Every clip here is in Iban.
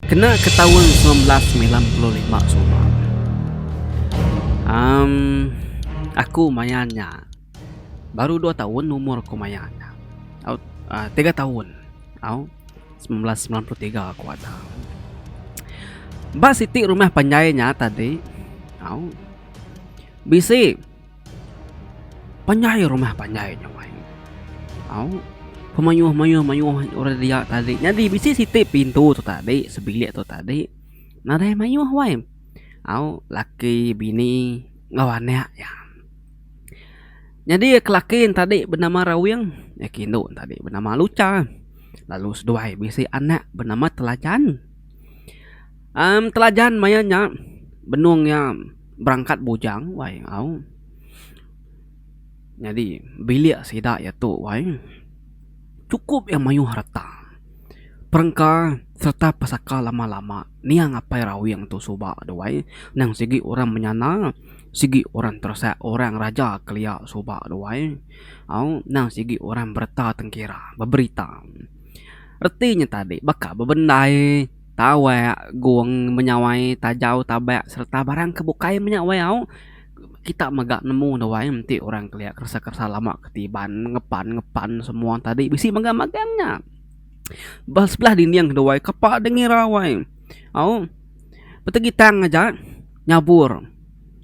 Kena ke taun semilan belas semilan puluh lima suba, am aku maya nya baru dua taun umur ku maya nya au uhh tiga taun au semilan belas semilan puluh tiga ku ada. Ba siti rumah panjai nya tadi au bisi. Panjai rumah panjai nya wai. Au. Pemayuh mayuh mayuh orang dia tadi. Nyadi bisi siti pintu tu tadi sebilik tu tadi. Nadai mayuh wai. Au laki bini enggau anak iya. Nyadi ke laki ne tadi benama Rawing iya ke indu ne tadi benama Lucha lalu seduai bisi anak benama Telajan. Am Telajan maya nya benung iya. berangkat bujang wai au nyadi bilik sida iya tu wai chukup iya mayuh reta perengka sereta pesaka lama lama niang apai rawing tu suba tu wai niang sigi orang menyana sigi orang teresak orang raja kelia suba tu wai au niang sigi orang bereta tengkira beberita reti nya tadi baka bebendai. Tawak, gung, menyawai, tajau, tabak sereta barang ke bukai menya wayau kita mega nemu ne wai enti orang kelia keresa keresa lama ke ti iban ngepan ngepan semua tadi bisi mega magang nya. Ba sebelah dinding tu wai kapa deh ngira wai au petegitang aja nyabur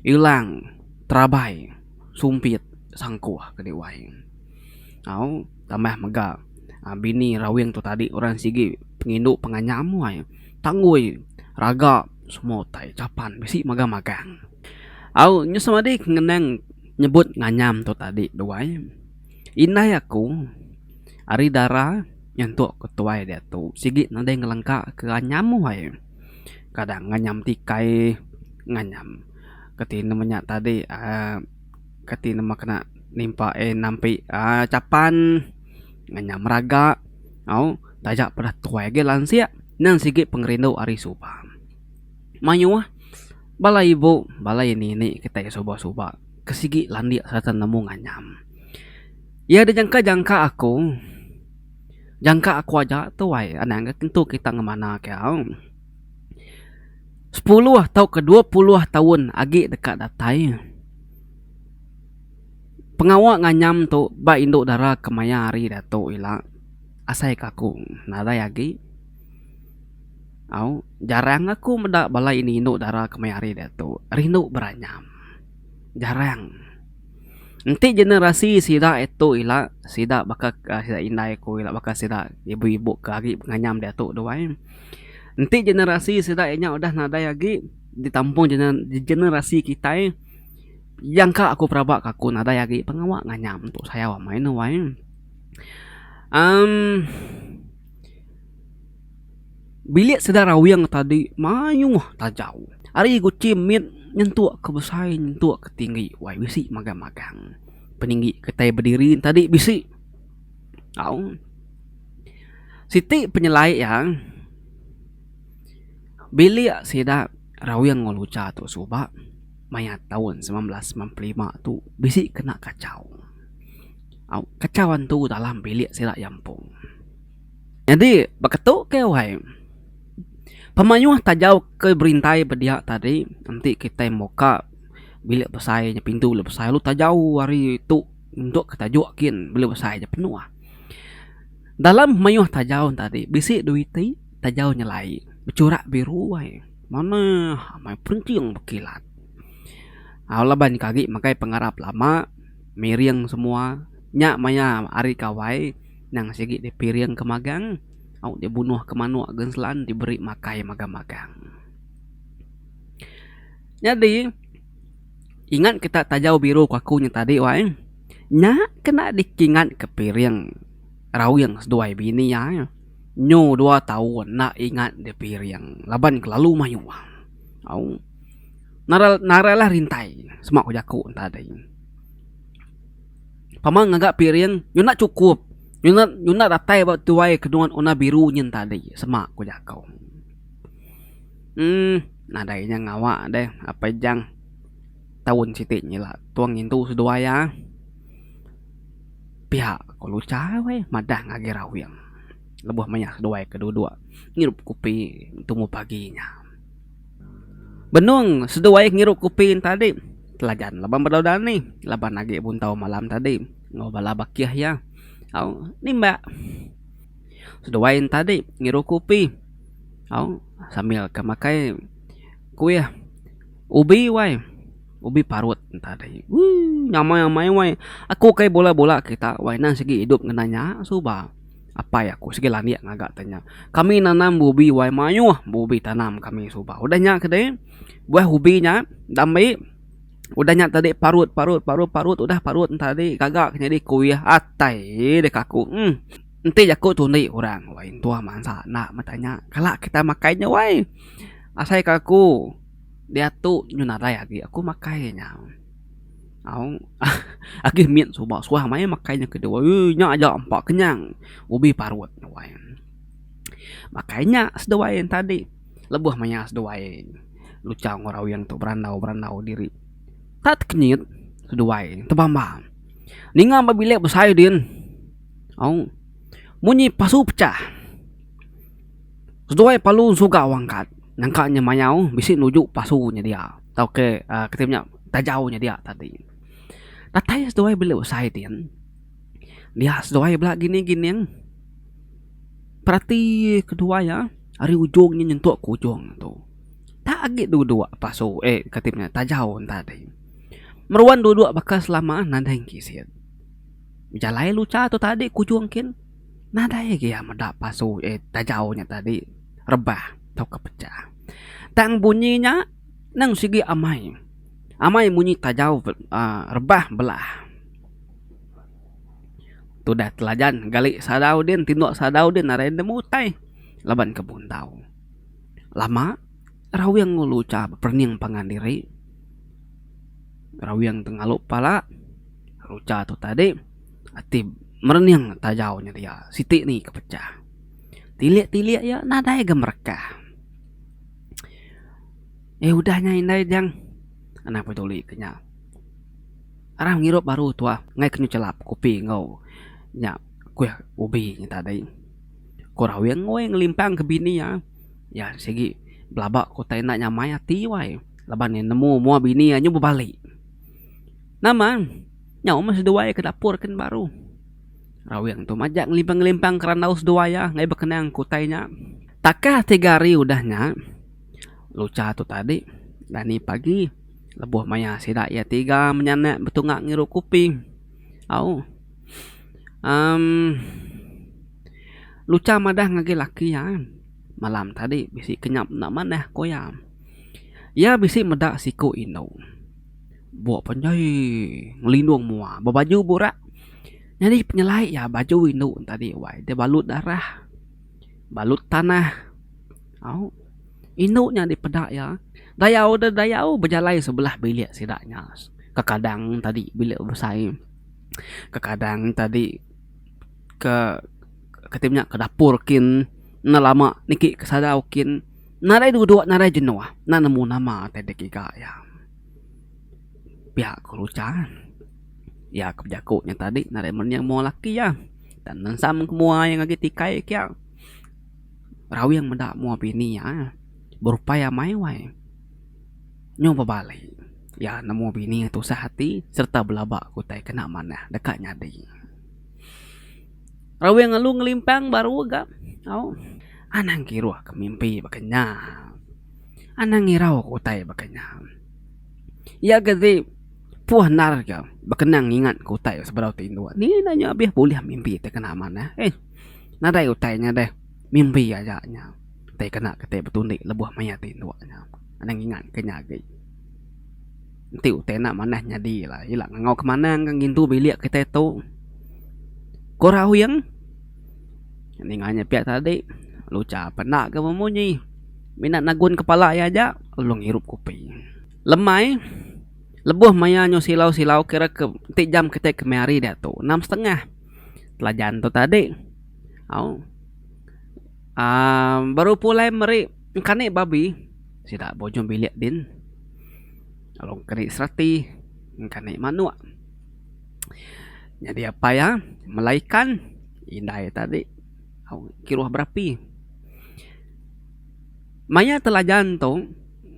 ilang terabai sumpit sangkuh kadi wai. Au tambah mega bini raweng tu tadi orang sigi pengindu penganyam wai tanggoi raga semua utai capan bisi mega magang. Au nyu semadi ku ngenang nyebut nganyam tu tadi tu ai indai aku ari dara nyentu ku tuai diatu sigi nadai ngelengka ke anyam wai kadang nganyam tikai nganyam ke tine menya tadi um Kati nama kena nimpa eh nampi aaa capan ngan nya meraga au taja peda tuai agi lansik nang sigi pengerindu ari suba. Mayuh bala ibu bala ini ini kitai ke suba suba ke sigi landik sereta nemu nganyam. Iya dijangka jangka aku jangka aku aja tuai anang agi tentu kita ngemana ke au. Sepuluh tauka dua puluh taun agi deka datai, pengawa nganyam tu ba indu dara ke maya hari diatu ila asai ke aku nadai agi au jarang aku meda bala ini indu dara ke maya hari diatu rindu beranyam jarang enti generasi sida tu ila sida baka indai aku ila baka sida ibu-ibu ke agi benganyam diatu duai. Enti generasi sida inya udah nadai agi ditampung generasi kitai yang ka aku peraba ka aku nadai agi pengawa nganyam tu sayau amai ne wai uhh bilik sida rawing tadi mayuh tajau ari guchi mit nyentuk ke besai nyentuk ke tinggi wai bisi magang magang peninggi kitai bediri tadi bisi. Au. Siti penyelai iya, bilik sida Rawing Enggau Lucha tu suba maya taun semilan belas seman puluh lima tu bisi kena kachau. Au, kachau antu dalam bilik sida iya empu. Nyadi baka tu ke wai, pemayuh tajau ke berintai ba dia tadi enti kitai muka bilik besai nya pintu bilik besai lalu tajau ari tu. Untuk ke tajuk kin belu besai aja penuh. Dalam mayuh tajaw enta ti bisi dua iti tajaw nyelai bechurak biru ai manah amai perinching bekilat. Au laban ke agi makai pengarap lama miring semua nya maya ari kawai nang sigi di piring ke magang au di bunuh ke manok ke selan di beri makai magang magang. Nyadi. Ingat ke tak tajau biru ku aku nya tadi wai. Nya kena dikingat ke piring rawing seduai bini iya nya. Nyu dua taun enda ingat di piring laban kelalu mayuh. Au narailah rintai sema ku jaku ne tadi. Pama ngaga piring nyu enda chukup nyu enda nyu enda datai ba tuai ke nuan warna biru nyin tadi sema ku jaku. Em. Nadai inya ngawa deh Apai Jang taun siti nyila tua ngintu seduai iya. Pia ko Lucha weh madah ngagi rawing lebuh mayah seduai ke duduk ngirup kopi tumu pagi nya. Benung seduai ngirup kopi nya tadi telajan laban bedau danih laban agi buntau malam tadi enggau bala bakih iya au nimbak seduai nya tadi ngirup kopi au. Sambil ke makai kuih ubi wai. Ubi parut entah deh. Woo nyamai amai wai. Aku kai bola bola kita wai nang sigi idup ngena nya suba. Apai aku sigi landik ngaga te nya. Kami nanam ubi wai maioh be ubi tanam kami suba. Udah nya ke deh buah ubi nya dambe udah nya tadi parut parut parut parut udah parut enta tadi gaga ke nyadi kuih atai deh kaku emm. Enti jaku tu enda kurang wai intuh mansa enda meda nya kala kita makai nya wai asai ka aku diatu nyu nadai agi aku makai nya au agi mit suba suah maya makai nya kedua ui nya aja empa kenyang ubi parut nya wai makai nya seduai yang tadi lebuh maya seduai luchao enggau raweng tu berandau berandau diri tat kenyit seduai tebamba ninga ba bilik besai din. Au. Munyi pasu pecah. Seduai palu ensugau angkat nyangka nya mayau bisi nuju pasu nya dia tau ke uhh kite nya tajau nya dia tadi. Datai seduai bela besai ti en dia seduai bela gining gining perati kedua iya ari ujung nya nyentuk ke ujung nya tu. Tak agi dua dua pasu eh kati nya tajau en tadi. Meruan dua dua baka selama nadai engki isen. Bejalai lucha tu tadi ku ujung kin nadai agi iya meda pasu eh tajau nya tadi rebah tauka pecah. Tang bunyi nya nang sigi amai. Amai munyi tajau uhh rebah belah. Tu dah telajan gali sadau din tinduk sadau din arai nemu utai laban ke bundau. Lama raweng lucha beperening pangan diri. Rawing tu ngalu pala, rucha tu tadi ati merening tajau nya dia siti ni ke pecah. Tilik-tilik iya nadai ga merekah. Eh udah nya indai Jang Anang Peduli ke nya. Arang ngirup baru tuah ngaih ke nyelap kopi enggau nya kuih ubi nya tadi. Ku Rawing weh ngelimpang ke bini iya. Iya sigi belaba ku utai enda nyamai ati weh. Laban iya nemu mua bini iya nyu bebali. Nama? Nyau meh seduai iya ke dapur ken baru. Rawing tu majak ngelimpang-ngelimpang kerandau seduai iya ngagai bekenang ke utai nya. Takah tiga hari udah nya, Lucha tu tadi dani pagi lebuh maya sida iya tiga menyanak betunga ngiru kopi. Au. Em Lucha madah ngagai laki iya, Malam tadi bisi kenyap enda manah, ku iya. Iya bisi meda siku indu. Buk panjai ngelindung mua ba baju burak. Nyadi penyelai iya baju indu ne tadi wai deh balut darah balut tanah au indu nya dipeda iya dayau deh dayau bejalai sebelah bilik sida nya ke kadang tadi bilik besai ke kadang tadi ke kati nya ke dapur kin enda lama niki ke sadau kin. Nadai duduk nadai jenuh enda nemu nama atai digiga iya. Pia ku Lucha. Iya ke bejaku nya tadi nadai mening mua laki iya. Enda nensam ke mua iya ngagai tikai iya kiya. Rawing meda mua bini iya eh berupai iya maiwai. Nyau bebali iya nemu bini iya tusah ati sereta belaba ke utai kena manah deka nyadi. Rawing alu ngelimpang baru ga au. Anang kiruh ke mimpi baka nya. Anang ngirau ke utai baka nya. Iya ga ti puh endar ke bekenang ngingat ke utai sebedau ti indu. Ni enda nya abih bulih mimpi ti kena manah eh. Nadai utai nya deh mimpi aja nya ti kena keti betundi lebuh maya ti indu nya. Anang ngingat ke nya agi. Enti utai enda manah nyadi ila ila ngangau ke manang ka ngintu bilik kitai tu ko rauyeng ninga nya pia tadi lucha pe enda ke bemunyi mina nagun kepala iya aja lalu ngirup kopi lemai lebuh maya nyu silau silau kira ke enti jam kitai kemari hari diatu enam setengah telajan tu tadi au um baru pulai meri engkani babi sida ba ujung bilik din. Lalu keri serati engkani manuk. Nyadi apai iya melai ikan indai tadi kiruh berapi. Maya telajan tu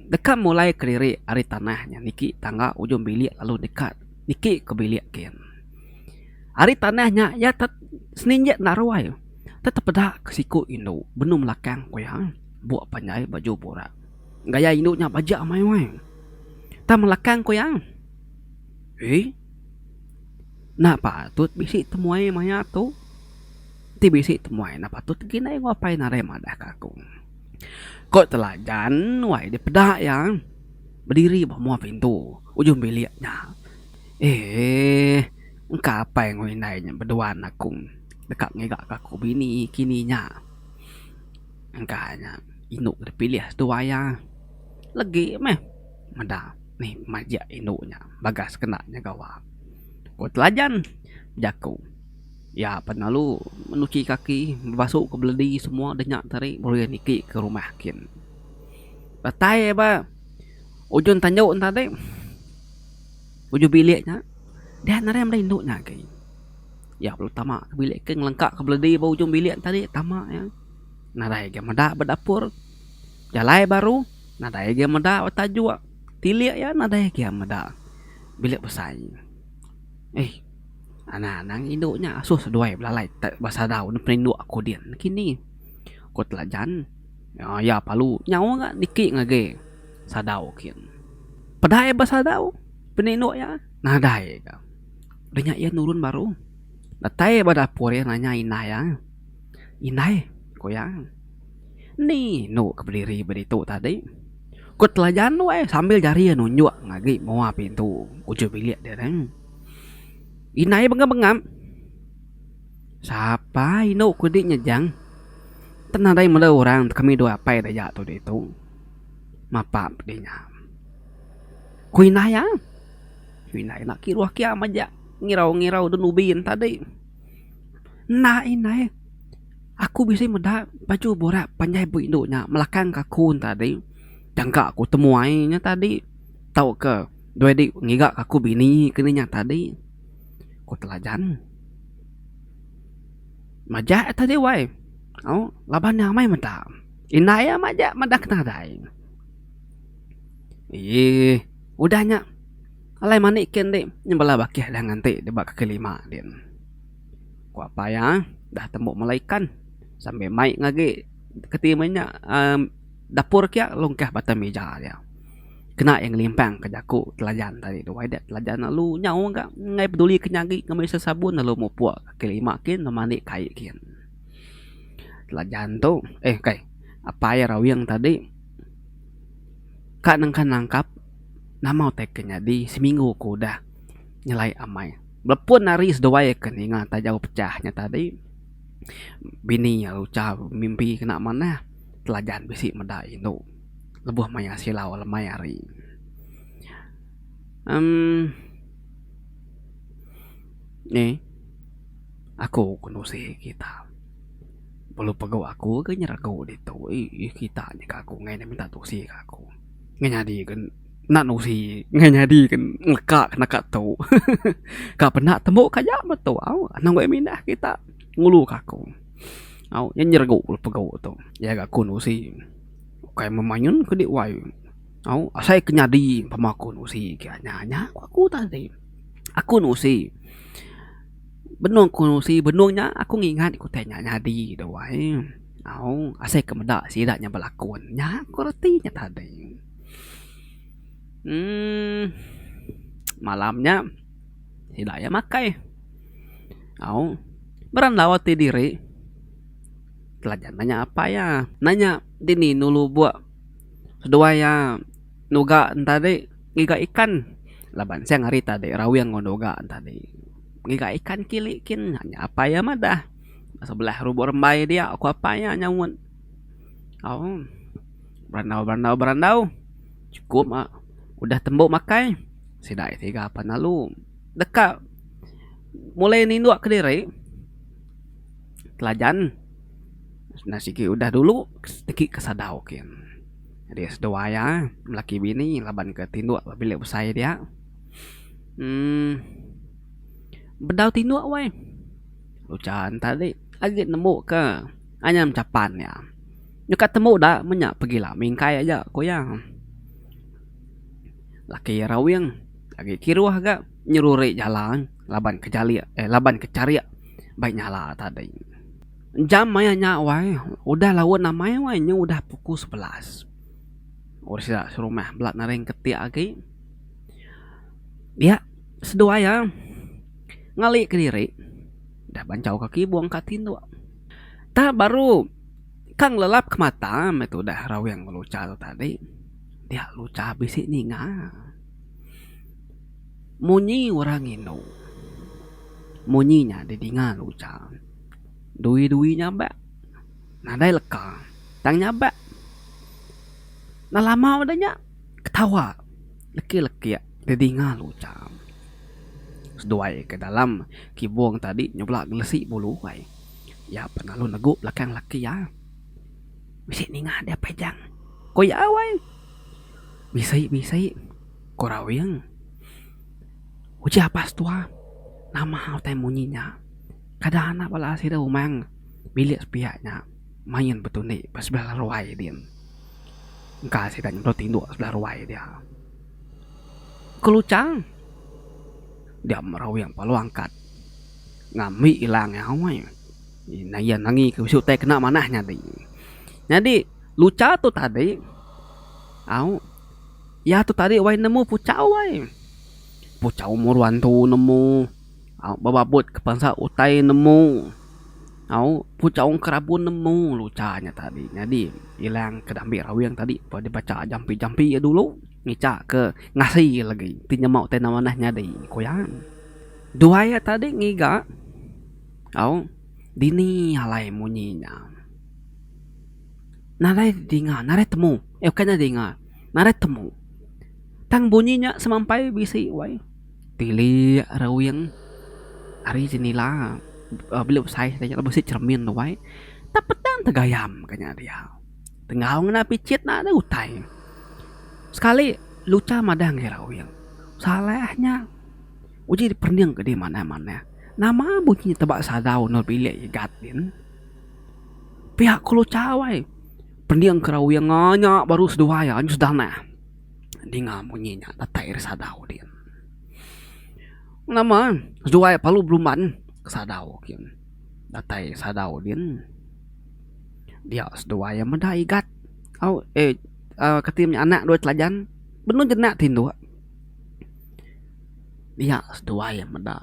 deka mulai kelirik ari tanah nya niki tangga ujung bilik lalu deka niki ke bilik kin. Ari tanah nya iya tet seninjek enda ruai tetepeda ke siku indu benung belakang ku iya buk panjai baju burak. Gaya indu nya baja amai wai. Tang melakang ku iya. Ee. Enda patut bisi temuai maya tu. Ti bisi temuai enda patut lagi indai enggau apai narai madah ke aku. Ko teladan wai deh peda iya bediri ba mua pintu ujung bilik nya. Ee. Engka apai enggau indai nya bedua anak ku deka ngiga ke aku bini kini nya. Engka nya indu ke dipilih tu waya legi meh meda mih majak indu nya bagas kena nyaga wang. Ku telajan jaku iya pen lalu menuchi kaki bebasu ke beledi semua deh nya tadi baru iya niki ke rumah kin. Datai iya ba ujung tandu nya tadi ujung bilik nya dian arai meda indu nya agei. Iya bela tama ke bilik ke ngelengka ke beledi ba ujung bilik tadi tama iya nadai ga meda ba dapur jalai baru nadai ga meda ba tajuk tilik iya nadai ga meda bilik besai eh ana anang indu nya asuh seduai belalai ba sadau neh perindu aku din kini ku telajan iya perlu nyawa ga niki ngagai sadau kin peda iya ba sadau perindu iya nadai ga. Udah nya iya nurun baru datai ba dapur iya nanya indai iya, "Indai," ku iya, "eni enu ke bediri ba ditu tadi?" Ku telajan tu ai sambil jari iya nunjuk ngagai mua pintu ujung bilik dia tadi. Indai bengap-bengap, "Sapa enu ku di nya Jang? Tan nadai meda orang kami dua apai dek iya tu ditu. Mapa pedi nya?" ku indai iya. Inai enda kiruh kiam aja ngirau-ngirau dun ubi yen tadi. Enda inai aku bisi meda baju burak panjai bu indu nya melakang ka aku yen tadi tangka aku temuai nya tadi tauka dua dik ngiga ka aku bini ke nya tadi ku telajan. Majak nya tadi wai au laban nya amai meda inai aja meda ke nadai eeh. Udah nya, alai mani ke enti nyembelah bakih deh nganti deh ba kaki lima din. Ku apai iya, udah tembu mela ikan sambil mai ke agi keti meh nya aaa dapur kiya lungkah ba atas mija iya. Kena iya ngelimpang ke jaku telajan tadi tu wai deh telajan lalu nyau ga ngai peduli ke nyagi ngembi sesabun lalu mupuk kaki lima kin lalu mandi kai kin. Telajan tu, eh kai, apai iya rawing tadi. Ka nengka nangkap nama utai ke nyadi seminggu ku udah nyelai amai belepun hari seduai ke ninga taja pecah nya tadi bini iya lucha mimpi kena manah telajan bisi meda indu lebuh maya silau lemai hari emm ni aku ke nusi kita. Pelu pegu aku ke nyeregu ditu ih kita nya ke aku ngai minta tusi ke aku ngai nyadi ke enda nusi ngai nyadi ke leka ke naka tu hehehe ka penda tembu ka aja me tu au anang wek mindah kita ngulu ke aku au nyen nyeregu pegu tu ya ga aku nusi ukai meh mayun kudi wai au asai ke nyadi pemaku nusi ke nya nya ku aku tadi aku nusi. Benung ku si benung nya aku ngingat ku tai nya nyadi dak wai au asai ke meda sida nya belakon nya ku reti nya tadi uhh malam nya sida iya makai au bra enggau ati diri telajan manya apai iya nanya dini dulu buk seduai iya. nuga entadi ngiga ikan laban sing hari tadi rawing enggau nuga entadi ngiga ikan kili kin nya nya apai iya madah sebelah lubuk rembai dia ku apai iya nyaunt au berandau berandau berandau cukup ma udah tembu makai sida iya tiga pan lalu deka mulai ninduk kediri telajan enda sigi udah dulu teki ke sadau kin. Jadi seduai iya belaki bini laban ke tinduk ba bilik besai dia um bedau tinduk weh ujan tadi agi nemu ke anyam chapan iya nyukat temu da menya pegila mingkai aja ku iya laki rawing agi kiruh ga nyeruri jalan laban ke jalik laban ke charik bai nyala tadi. Jam maya nya wai udah laun amai wai nya udah pukul sebelas. Orang sida serumah bela naring keti agi. Dia seduai iya ngali kediri udah banchau ka kibong ka tindu. Tah baru ka ngelelap ka mata meh tu udah raweng ngelucha tu tadi. Dia lucha bisi ninga. Munyi orang indu munyi nya didinga lucha. Dui-dui nyabak nadai leka tang nyabak enda lama udah nya ketawa lekik-lekik tedinga lu cham. Seduai ke dalam kibung tadi nyebulak ngelesi bulu ai iya pan lalu negu belakang laki iya bisi ninga dia pejang ku iya wai bisi-bisi ku rawing uji apas tua nama utai munyi nya. Kada anak bala sida umang bilik sepiak nya main betundi ba sebelah laruai din. Engka sida nyedot tinduk sebelah ruai dia. Keluchang dia merawing palu angkat ngambi ilang iya hoi. Ina iya nangi ke bisi utai kena manah nyadi. Nyadi lucha tu tadi au iya tu tadi wai nemu puchau ai. Puchau umur wan tu nemu. Bebabut ke pensa utai nemu au puchaung ke rabun nemu lalu cha nya tadi nyadi ilang ke dambe raweng tadi pun deka cha jampi-jampi iya dulu ngicha ke ngasi iya lagi ti nyema utai enda manah nyadi ku iya. Dua iya tadi ngiga au dini alai munyi nya nadai dinga nadai temu bukan nadai dinga nadai temu tang bunyi nya semampai bisi wai. Tilik rewing ari jendela belu besai taja lalu bisi cermin tuai tang pedang tegayam ka nya dia. Tenggau ngena pichit na deh utai. Sekali lucha madang ke rewing salah nya uji diperening kidi manah manah nama bunyi teba sadau endur bilik igat din. Pia ku lucha wai pening ke rewing nya baru seduai nya sedanah. Ninga munyi nya datai ari sadau din. Nama seduai palu beruban ke sadau kin. Datai ari sadau din. Dia seduai iya meda igat au eh kati nya anak dua telajan benung jenak ti indu. Dia seduai iya meda.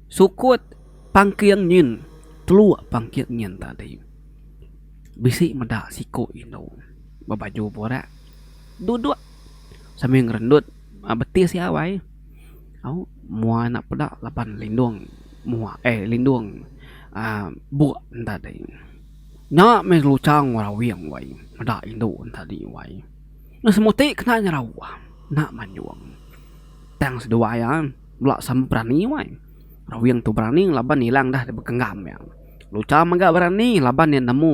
Sukut pangking nyin telu pangking nyin tadi. Bisi meda siku indu bebaju burak duduk sambil ngerendut betis iya wai au mua enda peda laban lindung mua eh lindung aaa buk enda dei. Nya meh luchang orang aweng wai meda indu tadi wai. Meh semuti kena nyerauh enda manyuong. Tang seduai iya bela sama berani wai. Orang aweng tu berani laban ilang dah dibekenggam iya. Lucha mega berani laban iya nemu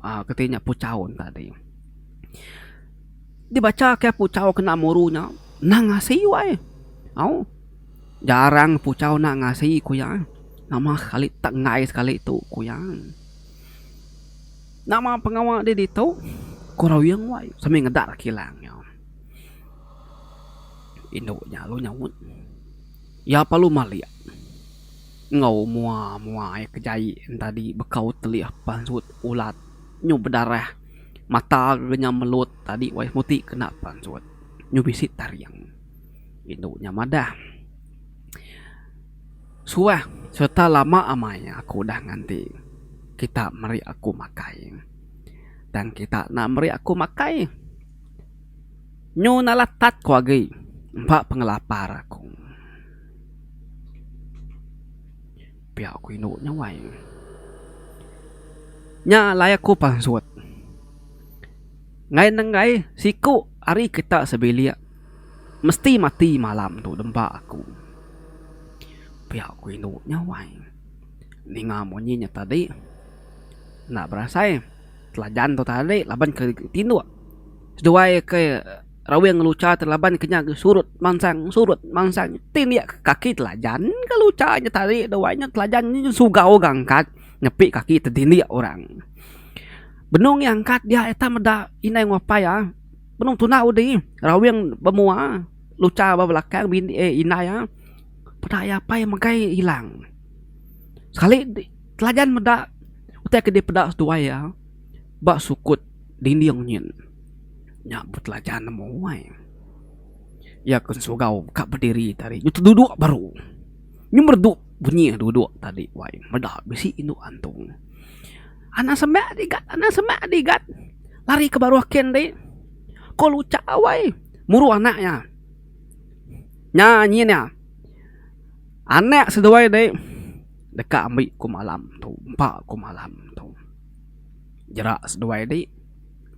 aaa keti nya puchau tadi. Dibacha kai puchau kena muru nya nang ngasi wai au jarang puchau nang ngasi ku iya nama sekali tenggai sekali tu ku iya. Nama pengawa deh ditu ku ruyung wai sembe ngeda ra kilang iya. Indu nya lalu nyaut iya perlu malik. Enggau mua-mua iya ke jai entadi bekau telih pansut ulat nyu bedarah mata renyam melut tadi wayah muti kena pansut nyu bisi taring indu nya madah suah serta lama amai aku udah nganti kita meri aku makai tang kita enda meri aku makai nyu nalah tat ku agi empa pengelapar aku. Pia ku indu nya wai. Nya alai aku pansut ngai nenggai siku ari kita sebilik mesti mati malam tu dempa aku. Pia ku indu nya wai. Ninga munyi nya tadi enda berasai telajan tu tadi laban ke tinduk seduai ke. Rawing lucha ti laban ke nya surut mansang surut mansang ti indi ke kaki telajan ke lucha nya tadi dua nya telajan nya sugau ga angkat nyepi kaki tedindik orang. Benung iya angkat dia ita meda inai enggau apai iya benung tuna udi rawing ba mua lucha ba belakang bini ai inai iya peda iya apai megai ilang sekali telajan meda utai ke dipeda seduai iya ba sukut dinding nyin. Nya betelajan amu ai. Iya ke sugau ka bediri tadi nyu teduduk baru. Nyu merdu bunyi duduk tadi wai meda bisi indu antung. Anak seme di gat anak seme di gat lari ke baruh ken ti ko lucak wai muru anak iya. Nya nyin iya anak seduai ti deka ambi ku malam tu empa ku malam tu jerak seduai ti.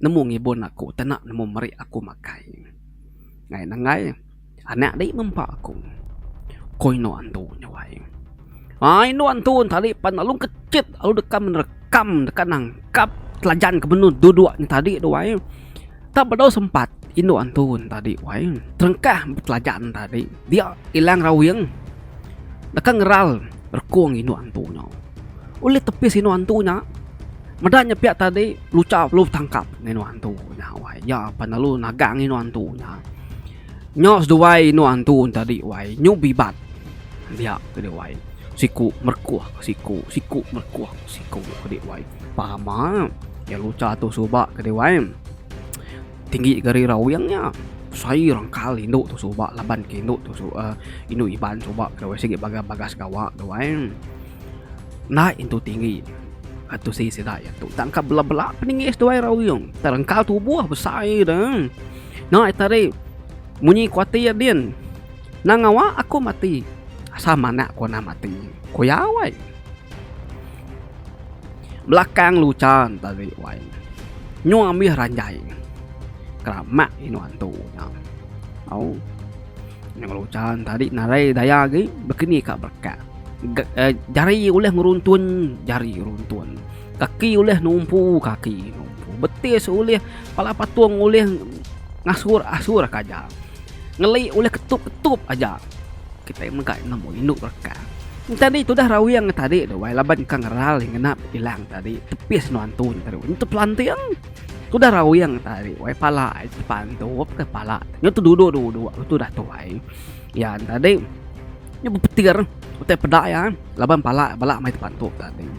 nemu ngibun aku tena nemu meri aku makai ngai nenggai anak dei ngempa aku ko eno antu nyawai ai eno antu tadi pan alu kecit alu deka menerekam deka nangkap telajan ke benung dudok ne tadi tu ai tang bedau sempat eno antu ne tadi tu ai terengkah betelajan ne tadi dia ilang raweng deka ngeral rekong eno antu nyau. Ulih tepis indu antu nya. Meda nya piak tadi lucha perlu betangkap ngan indu antu nya wai iya pan lalu nagang indu antu nya. Nya seduai indu antu tadi wai nyu bibat dia tadi wai siku merekoh siku siku merekoh siku tadi wai pama iya lucha tu suba tadi wai. Tinggi gari rawing nya. Sai orang kal indu tu suba laban ke indu tu su uh, indu Iban suba ke wai sigi bagas bagas gawa tu ai. Enda intu tinggi. Atu si sida ya tu. Tangka bela-bela peningis tu ai rawing. Terengkal tubuh besai dah. Nah tadi munyi kuatir din. Nang ngawa aku mati. Asal manak ku nah mati. Kuyau ai. Belakang luchan tadi wai nya. Nyuh ambih ranjai nya. Keramak indu antu nya. Au. Nyuh luchan tadi narai daya agi bekeni ka berekat. Jari ulih ngeruntun jari runtun. Kaki ulih numpu kaki numpu. Betis ulih pala patung ulih ngasur asur ka aja. Ngeli ulih ketup ketup aja. Kitai mega nemu indu belakang. Entadi tudah Rawing tadi tu wai laban ka ngeral di ngenap kilang tadi tepis nuan tu tadi wai nyentup lanting. Tudah Rawing tadi wai pala ai tepantup ke pala nyu teduduk duduk tu dah tu ai. Ya tadi nyu bepetir utai peda iya laban pala bala mai tepantup tadi.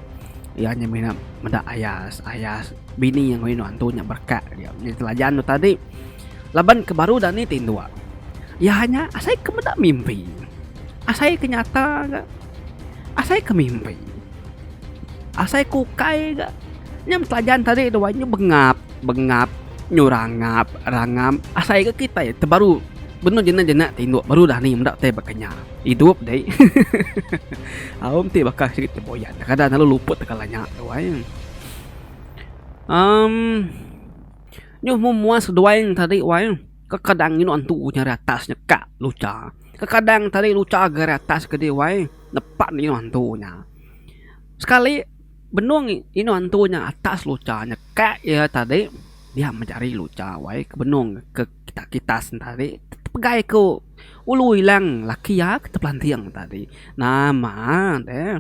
Iya nya mina meda ayas ayas bini ngoi nuan tu nya berekak nya telajan tu tadi. Laban ke baru dani ti endua. Iya hanya asai ke meda mimpi. Asai ke nyata ga asai ke mimpi. Asai ke ukai ga nyam telajan tadi dua nyu bengap bengap nyu rangap rangam asai ga kitai te baru benung jena jena ti endua baru dani meda tai ba kenyah idup deh. Aum ti baka sigi tembuyan kadang lalu luput tekala nya tuai. Amm. Nyuh meh mua seduai ngan tadi wai eh. Kekadang nginok entu nya ari atas nya ka lucha. Kekadang tadi lucha ga ari atas kedi wai eh nepak neh inok entu nya. Sekali benung inok entu nya atas lucha nya ka iya tadi dia meh jari lucha wai eh ke benung ke kitas kitas nya tadi tepegai ku ulu ilang laki iya ke tepelanting tadi. Nama deh.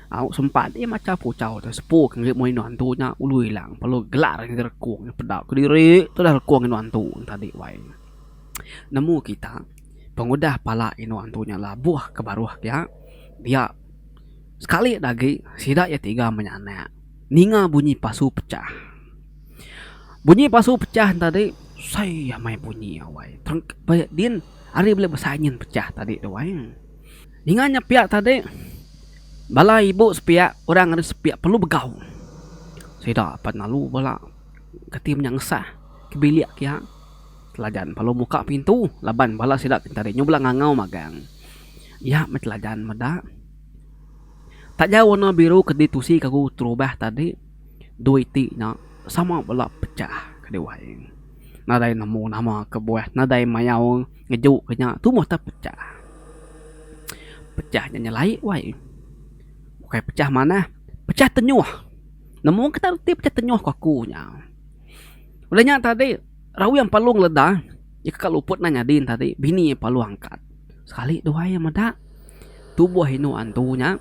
Au sempat iya macha puchau tu sepu ke ngagai indu antu nya ulu ila lalu gelar ngagai rekung nya peda kediri tudah rekung indu antu tadi wai nemu kita pengudah pala indu antu nya labuh ke baruh dia dia sekali da agi sida iya tiga menyanak ninga bunyi pasu pecah bunyi pasu pecah tadi sai amai bunyi wai terengka din ari bela besai nyin pecah tadi tu wai. Ninga nya pia tadi, bala ibu sepia orang ari sepia perlu begau. Sida apat lalu bala kati menya ngesah ke bilik pia. Teladan perlu muka pintu laban bala sida ti tadi nyau bala ngangau magang. Iya meh teladan meda. Taja warna biru ke ditusi ke aku terubah tadi, dua iti nya sama bala pecah ke diwai nadai nemu nama kebuah nadai mayau. Ngejuk ke nya tumoh tau pecah. Pecah nya nyelai wai. Bukai pecah manah, pecah tenyoh. Nemu ke tau reti pecah tenyoh ku aku nya. Udah nya tadi Rawing Palong leda iya kaka luput nang nyadi tadi Bini Palong angkat. Sekali dua iya meda tuboh indu antu nya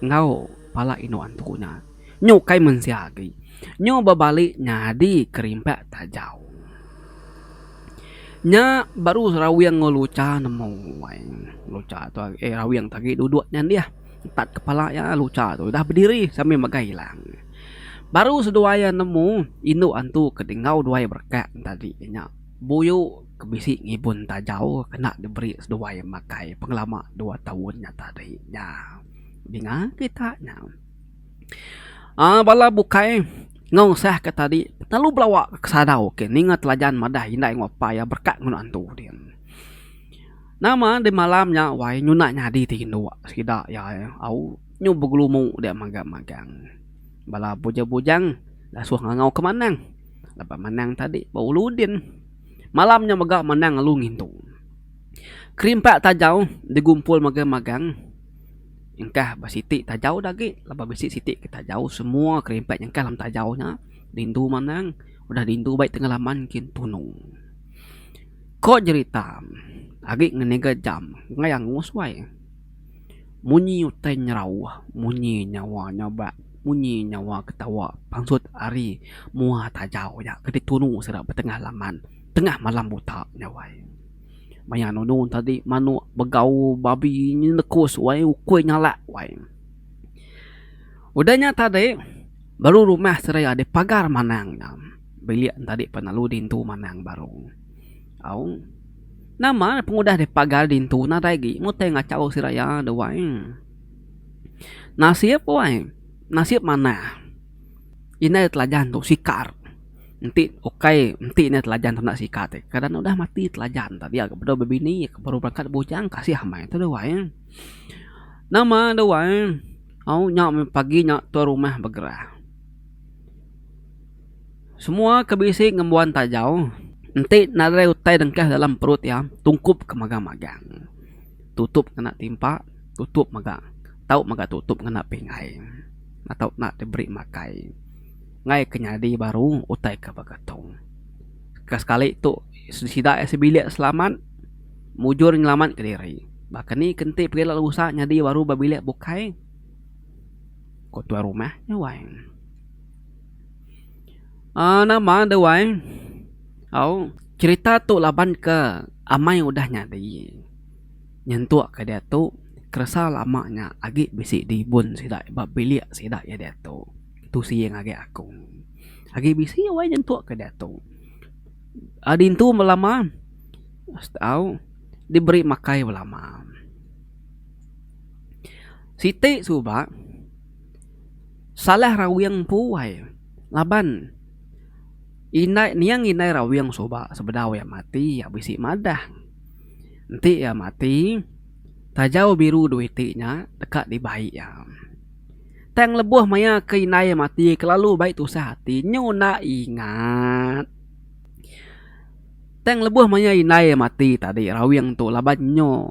enggau pala indu antu nya. Nya ukai mensia agi. Nya bebali nyadi kerimpak tajau. Nya baru rawing enggau lucha nemu ai. Lucha tu agi eh rawing tu agi duduk nya dih. Empat kepala iya lucha tu udah bediri sambil megai ilang. Baru seduai iya nemu indu antu ke enggau duai berekak nya tadi nya buyu ke bisi ngibun tajau kena diberi seduai makai pengelama dua taun nya tadi nya. Dinga kita nya. uhh bala bukai enggau sah ke tadi lalu belawa ke sadau ke ninga telajan madah indai enggau apai iya berkat enggau anak entu dia. Nama di malam nya wai nyunak nyadi ti indu sida iya au nyu begelumu dia magang magang. Bala bujang bujang ngasuh ngangau ke manang laban manang tadi ba ulu udin. Malam nya mega manang lalu ngintu. Kerimpak tajau digumpul magang magang. Engkah ba siti tajau da agi laban bisi siti ke tajau semua kerimpet nyengkah dalam tajau nya rindu manang udah rindu bai tengah laman kin tunung. Ko jerita agi ngeniga jam ngaya angus wai munyi utai nyerau munyi nyawa nyabak munyi nyawa ketawa pansut ari mua tajau nya ke ditunu sida ba tengah laman tengah malam buta nya wai. Maya nunu tadi manuk begau babi nya nekus wai ukui nyalak wai. Udah nya tadi baru rumah seraya dipagar manang nya bilik tadi pan lalu dintu manang baru au nama pengudah dipagar dintu nadai agi mutih ngachau seraya da wai nasib wai nasib manah indai telajan tu sikar. Enti ukai enti ne telajan tu enda sikat ih. Kadang ne udah mati telajan tu dia ke bedau bebini iya ke baru berakat bujang kasih amai tu deh wai. Nama deh wai au nya meh pagi nya tuan rumah begerah. Semua ke bisi ngembuan tajau enti nadai utai dengkah dalam perut iya tungkup ke magang-magang. Tutup ngena timpa tutup mega tau mega tutup ngena pingai. Atau enda diberi makai. Enggai ke nyadi baru utai ke begetung. Ke sekali tu sida iya sebilik selamat mujur nyelamatka diri. Baka ni ke enti pegila rusa nyadi baru ba bilik bukai? Ku tuai rumah nya wai. uhh nama de wai? Au, cherita tu laban ke amai udah nyadi nyentuk ke diatu keresa lama nya agi bisi dibun sida ba bilik sida iya diatu. Tu siying agi aku. Agi bisi wai nyentuk ke diatu. Adintu belama au diberi makai belama. Siti suba salah rawing empu wai laban indai niang indai rawing suba sebedau iya mati iya bisi madah. Enti iya mati taja biru duit ti nya deka dibai iya. Tang lebuh maya ke indai mati kelalu bai tusah ati nyu enda ingat. Tang lebuh maya indai mati tadi rawing tu laban nyu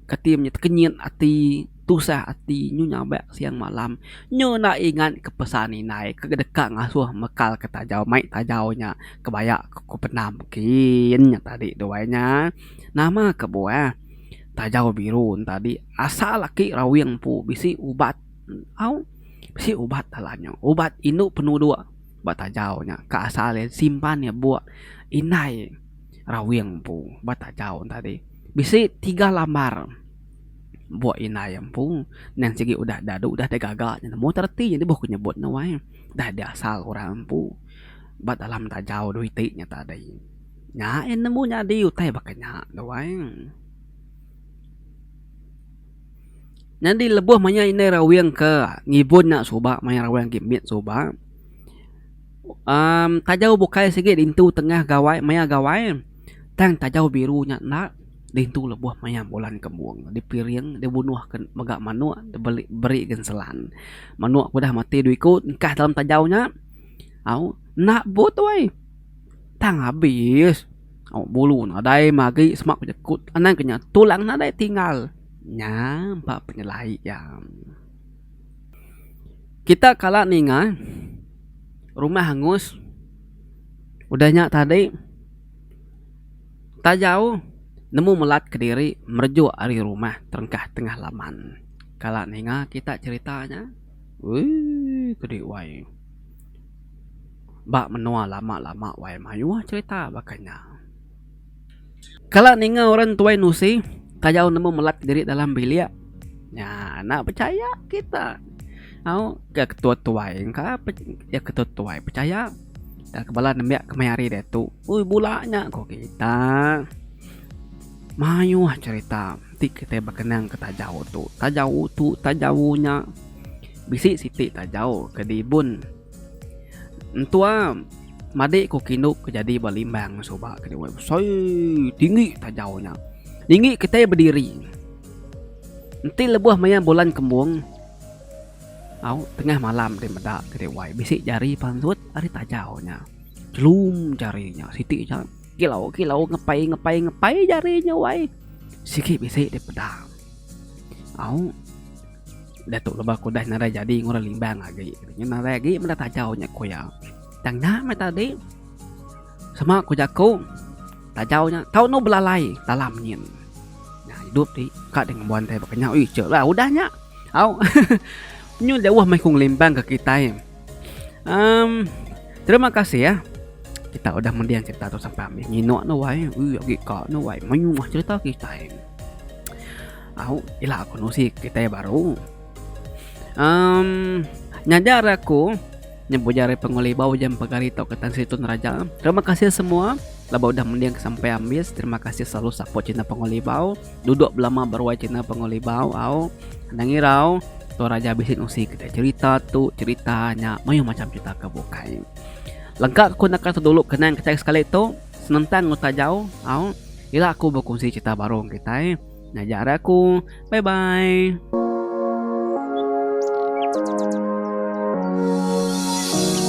kati meh tekenyit ati tusah ati nyu nyabak siang malam nyu enda ingat ke pesan indai ke deka ngasuh mekal ke tajau mai tajau nya kebaya ku pendam kin nya tadi duai nya. Nama kebuah. Tajau biru entadi asal aki rawing empu bisi ubat au bisi ubat dalam nya ubat indu penuduk ba tajau nya ka asal iya disimpan iya buk indai rawing empu ba tajau entadi bisi tiga lambar buk indai iya empu nan sigi udah dadu udah digaga nya nemu ta reti jadi boh ku nyebut ne wai dah diasal orang empu ba dalam tajau dau iti nya tadi. Nya eh nemu nyadi utai baka nya tu ai. Nyadi lebuh maya indai rawing ke ngibun nya suba maya rawing agi mit suba uhh taja bukai sigi ditu tengah gawai maya gawai tang taja biru nya enda ditu lebuh maya bulan kembung dipiring dibunuh ke mega manok diberi beri ke selan. Manok ke udah mati dua iku engkah dalam taja nya au enda but tu ai. Tang abis. Awak bulu nadai magi semak pejekut anang ke nya tulang nadai tinggal. Nya empa penyelai iya. Kita kala ninga rumah angus udah nya tadi tajau nemu melat kediri merejuk ari rumah terengkah tengah laman. Kala ninga kita cherita nya. Uii kedi wai. ba menua lama lama wai mayuh cerita baka nya. Kala ninga orang tuai nusi kayau nemu melat diri dalam bilik nya enda pechaya kita au ga ketua tuai engka ga ketua tuai pechaya ga ke bala nembiak nya kemaya hari diatu oi bula nya ko kita. Mayuh cerita ti kitai bekenang ke taja utu taja utu taja unya. Bisi siti tajau ke dibun entua madik ku kindup ke jadi ba limbang suba ke diwai besai tinggi tajau nya tinggi kitai bediri enti lebuh maya bulan kembung au tengah malam ti meda ke diwai bisi jari pansut ari tajau nya chelum jari nya siti nya kilau kilau ngepai ngepai ngepai jari nya wai sigi bisi dipeda au. Datuk Lebah ku udah narai jadi ngurang limbang agi. Nya narai agi meda tajau nya ku iya. Tang nya meh tadi sama ku jaku tajau nya tau anu belalai dalam nyin. Nya idup ti ka deh ngembuan tai ba kenyau. Ih chek lah udah nya. Au nyu jauh meh ku ngelimbang ke kitai. Um terima kasih ya. Kita udah mendiang cerita tu sampai habis. Nginok nuai. Ui agi ka nuai. Mayuh cerita kitai. Au, ila aku nusi kitai baru. Um, nyajar aku nyebut jari penguli bau jam pegari tau ketan situn raja. Terima kasih semua laba udah mending sampai ambis. Terima kasih selalu support channel penguli bau. Duduk belama beruai channel penguli bau. Au, nang irau tu raja bisi nusi kita cerita tu cerita nya mayuh macam cerita ke bukai. Lengkap aku nak kata dulu kenang kita sekali tu senentang utajau. Au, ila aku berkongsi cerita baru kita. Ngajar aku. Bye bye.